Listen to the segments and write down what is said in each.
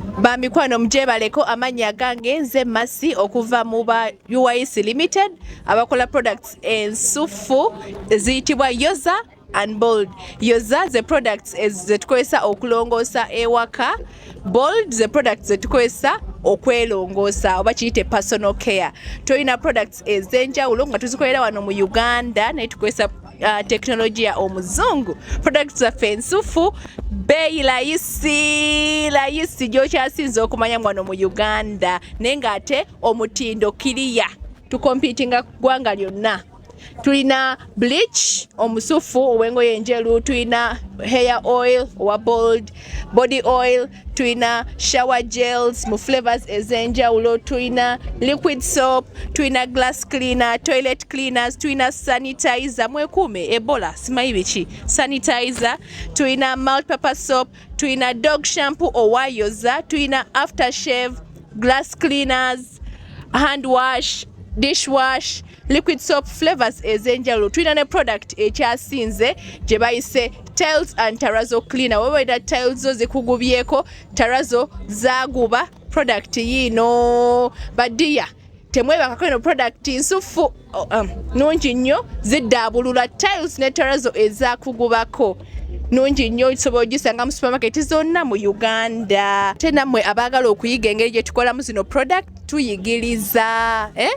Bamikwano mugyebaleko amannya agange nze Masi okuva mu ba UYC Limited abakola products ensuffu eziyitibwa Yoza and Bold. Yoza ze products zetukozesa okulongoosa ewaka, Bold ze products zetukozesa okwelongoosa oba kiyite personal care. Tulina products ez'enjawulo nga tuzikolera wano mu Uganda naye tukozesa uh, teknologiya omuzungu products zaffe ensufu beeyi layisi layisi gyokyasinza okumanya mwano mu uganda naye ngaate omutindo kiriya tukompitinga kugwanga lyonna tulina bleach omusufu owengoye enjeru tulina hair oil owa bold body oil tulina shower gels mu flavors ez'enjawulo tulina liquid soap tulina glass cleaner toilet cleaners tulina sanitizer mwekuume ebola simanyi biki sanitizer tulina multipurpose soap tulina dog shampoo owayoza tulina after shave glass cleaners hand wash dish wash liquid soap flavors ez'enjawulo tulina ne product ekyasinze gye bayise tiles and tarazo cleaner webaira tiles zo zikugubyeko tarazo zaguba product yiino badiya temwebakako eno product nsuffu um, nungi nnyo ziddaabulula tiles ne tarazo ezakugubako nungi nnyo osobola ogisanga mu supermarket zonna mu uganda te nammwe abaagala okuyiga engeri gye tukolamu zino product tuyigiriza eh?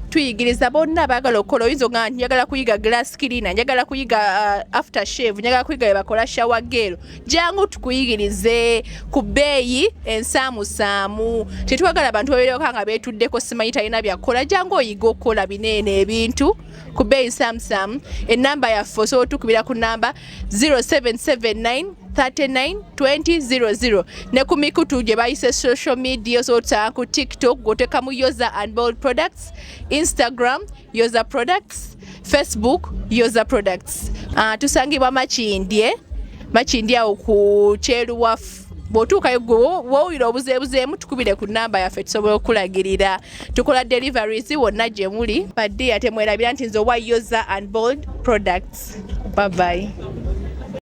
tuyigiriza bonna abaagala okukola oyinza ogaa nti njagala kuyiga glass cleaner njagala kuyiga uh, after shave njagala kuyiga bebakola shawa geero jangu tukuyigirize ku bbeeyi ensaamusaamu tetwagala bantu babeerewaka nga beetuddeko simanyi talina byakukola jangu oyiga okukola bineene ebintu ku bbeeyi nsaamusaamu enamba yaffe osobola otukubira ku namba 0779 392000 ne ku mikutu gye bayise social media osobola ku tiktok gwotekamu yoza and bold products instagram yoza products facebook yoza products uh, tusangibwa makindye makindye awo ku kyeruwafu bwotuukayo gwe wowulira obuzeebuzeemu tukubire ku namba yaffe tusobola okukulagirira tukola deliveries wonna gye muli badiya temwerabira nti nze owa yoza and bold products babayi